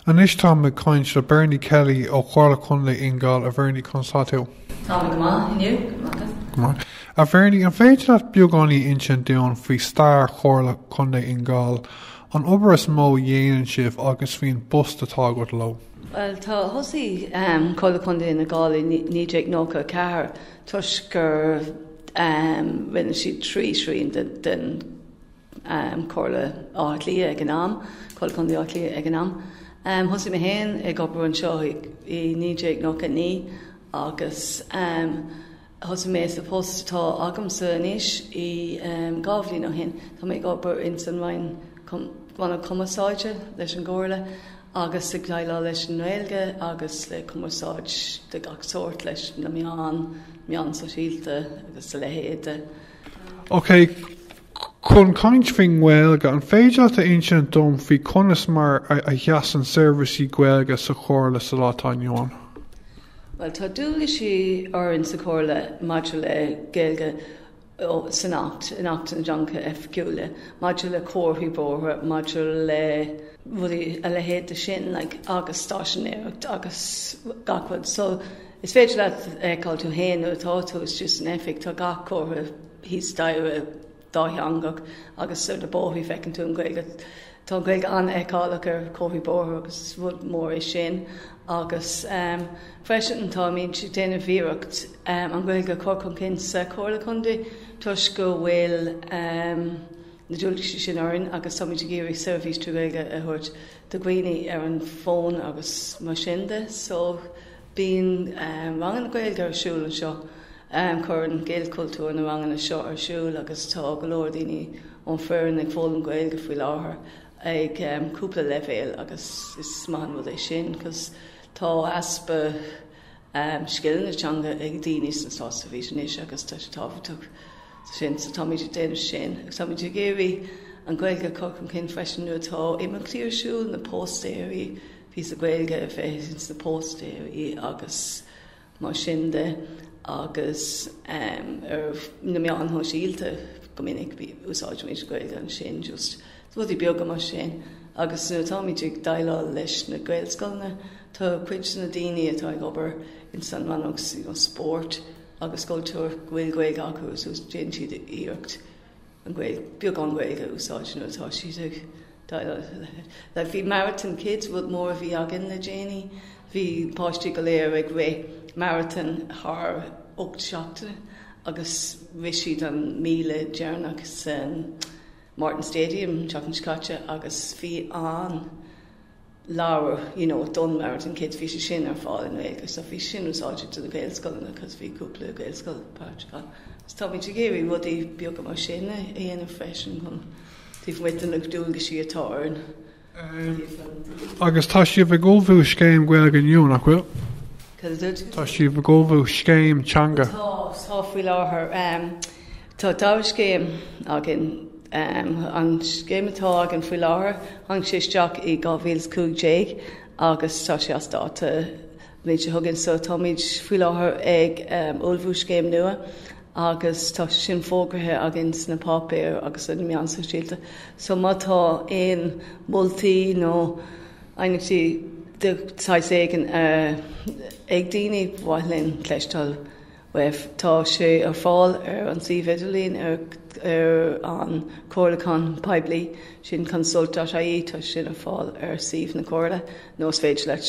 Anois táim ag caint le Bernie Kelly ó Chomhairle Contae Fhine Gall. A Bhernie, conas tá tú? Tá mé go maith, inniu, go maith, tú féin? Go maith. A Bhernie, an féidir leat beagáinín insint dúinn faoi stair Chomhairle Contae Fhine Gall, an obair is mó a dhéanann sibh agus faoin bpost atá agat leo? Bhuel, tá thosaigh um, Comhairle Contae Fhine Gall i 1994 toisc gur um, rinne siad trí trian den, den um Chomhairle Átha Cliath ag an am, Comhairle Contae Átha Cliath ag an am. Um thosaigh mé féin ag obair anseo i 1999 agus um thosaigh mé sa post atá agamsa anois i um dhá bhliain ó shin. Tá mé ag obair in san Rannóg Cumarsáide leis an gComhairle agus ag déileáil leis an nGaeilge agus le cumarsáid de gach sórt leis na meáin, meáin sosialta agus a leithéid de. Okay. Chun caint faoin nGaeilge, an féidir leat a insint dom faoi conas mar a sheasann seirbhísí Gaeilge sa Chomhairle sa lá atá inniu ann? Bhuel, tá dualgais orainn sa Chomhairle maidir le Gaeilge san Acht, in Acht na dTeangacha Oifigiúla, maidir le comharthaí bóithre, maidir le rudaí a leithéid de sin, like, agus stáiséinéireacht agus gach rud. So, is féidir leat a fheiceáil tú féin nuair atá tú istigh san Oifig, tá gach comhartha thíos staighre dátheangach agus ar na bóithrí feiceann tú an Ghaeilge. Tá an Ghaeilge an-fheiceálach ar chomharthaí bóithre agus is rud mór é sin agus freisin táimid ag déanamh iarracht an Ghaeilge a chur chun cinn sa Chomhairle Contae toisc go bhfuil na dualgaisí sin orainn agus táimid ag iarraidh seirbhís trí Ghaeilge a thabhairt do dhaoine ar an bhfón agus mar sin de so Bíonn ranganna Gaeilge ar siúl anseo. Cuireann Gaelchultúr na ranganna seo ar siúl agus tá go leor daoine ón bhfoireann ag foghlaim Gaeilge faoi láthair ag cúpla leibhéal agus is maith an rud é sin cos tá easpa scileanna teanga ag daoine sa Státseirbhís anois agus tá sé tábhachtach sin so táimid ag déanamh sin agus táimid ag iarraidh an Gaeilge a chur chun cinn freisin nuair atá imeachtaí ar siúl, na póstaeirí. píosa Gaeilge a bheith sna póstaeirí agus mar sin de agus ar na meáin shóisialta go minic úsáidimid Gaeilge ansin just rudaí beaga mar sin agus nuair atáimid ag déileáil leis na Gaelscoileanna tá cuid de na daoine atá ag obair ins an rannóg spóirt agus cultúir go bhfuil Gaeilge acu so déan siad iarracht an Gaeilge, beagán Gaeilge a úsáid nuair atá siad ag déileáil le leithéid. Like, bhí marathon kids rud mór a bhí againn le déanaí, bhí páistí go léir ag rith marathon thar 8 seachtaine agus rith siad an míle deireanach san Morton Stadium seachtain seo caite agus bhí an leabhar, you know, don Marathon Kids, bhí sé sin ar fáil i nGaeilge. So bhí sin úsáideach do na Gaelscoileanna because bhí cúpla Gaelscoil páirteach ann. So táimid ag iarraidh rudaí beaga mar sin a dhéanamh freisin chun taobh amuigh de na dualgais atá orainn ó thaobh an dlí. Agus tá sibh ag ullmhú scéim Gaeilge nua, nach bhfuil? Cad a dúirt? Tá sibh ag ullmhú scéim teanga. Tá, tá faoi láthair. Tá dhá scéim againn. An scéim atá againn faoi láthair, tháinig sé isteach i 2015 agus tá sé as dáta an bhliain seo chugainn so táimid faoi láthair ag ullmhú scéim nua agus tá sin fógraithe againn sna páipéir agus ar na meáin shóisialta. So má tá aon moltaí nó aighneachtaí de shaghas éigin ag daoine, ba mhaith linn cloisteáil. F, Tá sé ar fáil ar an suíomh idirlín ar an comhairliúchán poiblí sin consult dot ie, tá sin ar fáil ar suíomh na Comhairle nó is féidir leat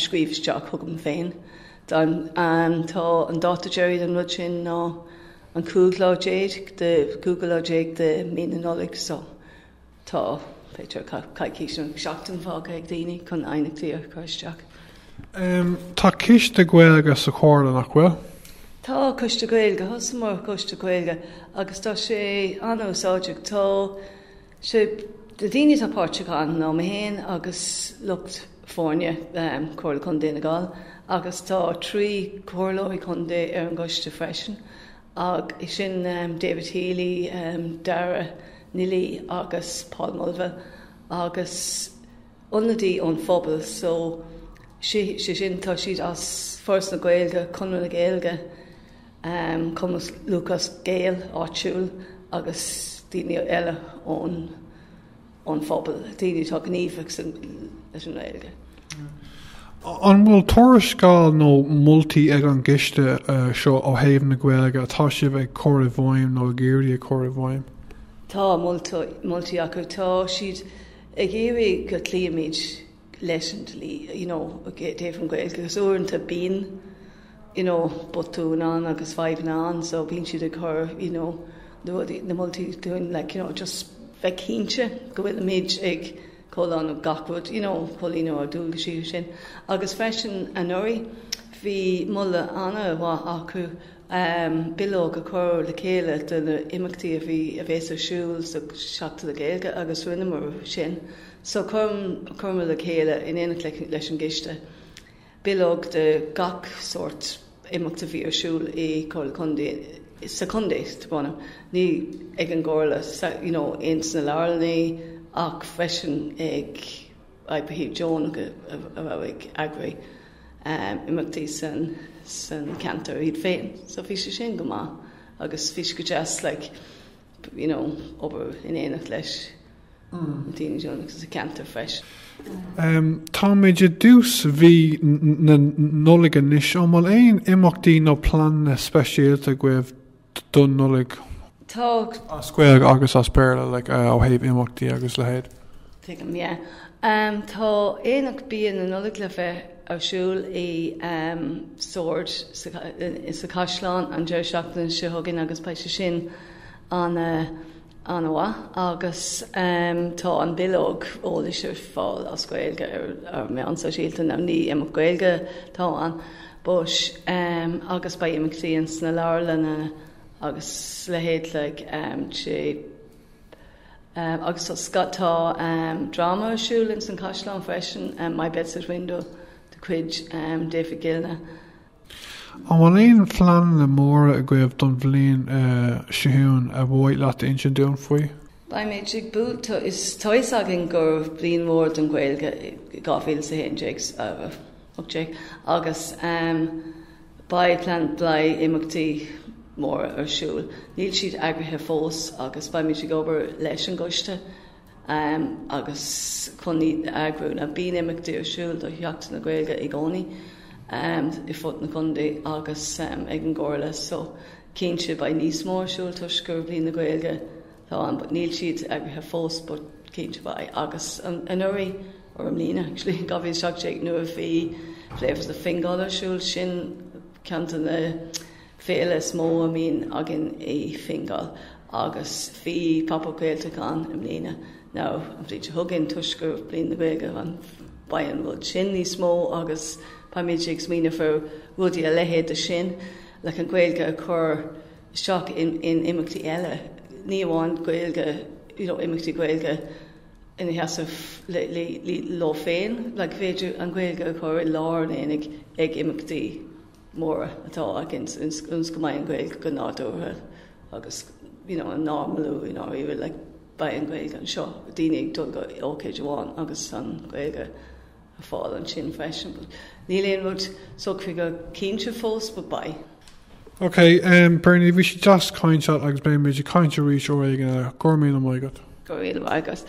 scríobh isteach chugam féin. Tá an dáta deiridh don rud sin ná an cúigiú lá déag de mhí na Nollag. Tá b'fhéidir coicís nó seachtain fágtha ag daoine chun aighneachtaí a chur isteach. Tá coiste Gaeilge sa Chomhairle, nach bhfuil? Tá coiste Gaeilge. Thosaíomar coiste Gaeilge agus tá sé an-úsáideach. Tá sé, na daoine atá páirteach ann ná mé féin agus lucht foirne Chomhairle Contae Fhine Gall agus tá trí Comhairleoirí Contae ar an gcoiste freisin sin David Healy, Daire Ní Laoi agus Paul Mulville agus ionadaí ón phobal so, sé sin tá siad as Foras na Gaeilge, Conradh na Gaeilge, Cumann Lúthchleas Gael áitiúil agus daoine eile ón. phobal, daoine atá gníomhach leis an nGaeilge. An bhfuil tuarascáil nó moltaí ag an gCoiste seo ó thaobh na Gaeilge atá sibh ag cur i bhfeidhm nó ag iarraidh a chur i bhfeidhm? Tá moltaí acu. Tá siad ag iarraidh go gcloímid leis an dlí you know taobh an Ghaeilge agus uaireanta bíonn you know botúin ann agus fadhbanna ann so bíonn siad ag cur you know na rudaí na moltaí dúinn like you know just bheith cinnte go bhfuilimid ag comhlíonadh gach rud you know comhlíonadh ár ndualgais sin agus freisin anuraidh bhí moladh ana mhaith acu ehm bileog a chur le chéile do na imeachtaí a bhí a bhéas ar siúl sa Seachtain na Gaeilge agus rinneamar sin. So chuireamar le chéile, in éineacht leis an gcoiste, bileog de gach sórt imeachta a bhí ar siúl i gComhairle Contae, sa Chontae, tá brón orm, ní ag an gComhairle you know in sna Leabharlannaí ach freisin ag oibrithe deonacha a raibh ag eagrú imeachtaí san ceantar iad féin. So bhí sé sin go maith agus bhí sé go deas like you know obair in éineacht leis daoine deonacha sa cheantar freisin. Táimid i dtús mhí na Nollaig anois, an bhfuil aon imeachtaí nó pleananna speisialta agaibh don Nollaig as Gaeilge agus as Béarla le ó thaobh imeachtaí agus a leithéid? Tuigim, yeah. Tá aonach bia na Nollag le bheith ar siúl i Sord sa Caisleán an deireadh seachtaine seo chugainn agus beidh sé sin an an-mhaith. Agus tá an bileog eolais ar fáil as Gaeilge ar ár meáin shóisialta now ní imeacht Gaeilge atá ann, but, agus beidh imeachtaí ins na leabharlanna agus a leithéid agus tá dráma ar siúl ins an Caisleán freisin, My Bedside Window de chuid David Gilna. An bhfuil aon phleananna móra agaibh don bhliain seo chugainn ar mhaith leat a insint dúinn faoi? Beimid ag tá a fhios againn gur bliain mhór don Ghaeilge í 2018 agus beidh plean beidh imeachtaí móra ar siúl. Níl siad eagraithe fós agus beimid ag obair leis an gcoiste agus chun iad a eagrú. Now, bíonn imeachtaí ar siúl do Sheachtain na Gaeilge i gcónaí ar fud an chontae agus ag an gComhairle so cinnte beidh níos mó ar siúl toisc gur Bliain na Gaeilge atá ann but níl siad eagraithe fós but cinnte beidh agus anuraidh, or i mbliana actually, 2017 nuair a bhí Flavours of Fingal ar siúl sin ceann de na féile is mó a mbíonn againn i Fingal agus bhí Pop Up Gaeltacht ann i mbliana now an bhliain seo chugainn toisc gur Bliain na Gaeilge ann beidh an rud sin níos mó agus táimid ag smaoineamh faoi rudaí a leithéid de sin like an Gaeilge a chur isteach in, in imeachtaí eile. Ní amháin Gaeilge you know, imeachtaí Gaeilge ina seasamh leo féin, like, is féidir an Gaeilge a chur i lár an aonaigh ag imeachtaí móra atá againn ionas go mbeidh an Ghaeilge go nádúrtha agus you know an normalú in our era like beidh an Ghaeilge anseo, daoine ag dul go ócáid amháin agus an Ghaeilge ar fáil ansin freisin but níl aon rud socraithe cinnte fós but beidh. Ok em Bernie bhí sé deas caint leat agus beimid ag caint arís uair éigin eile. Go raibh míle maith agat. Go raibh míle maith agat.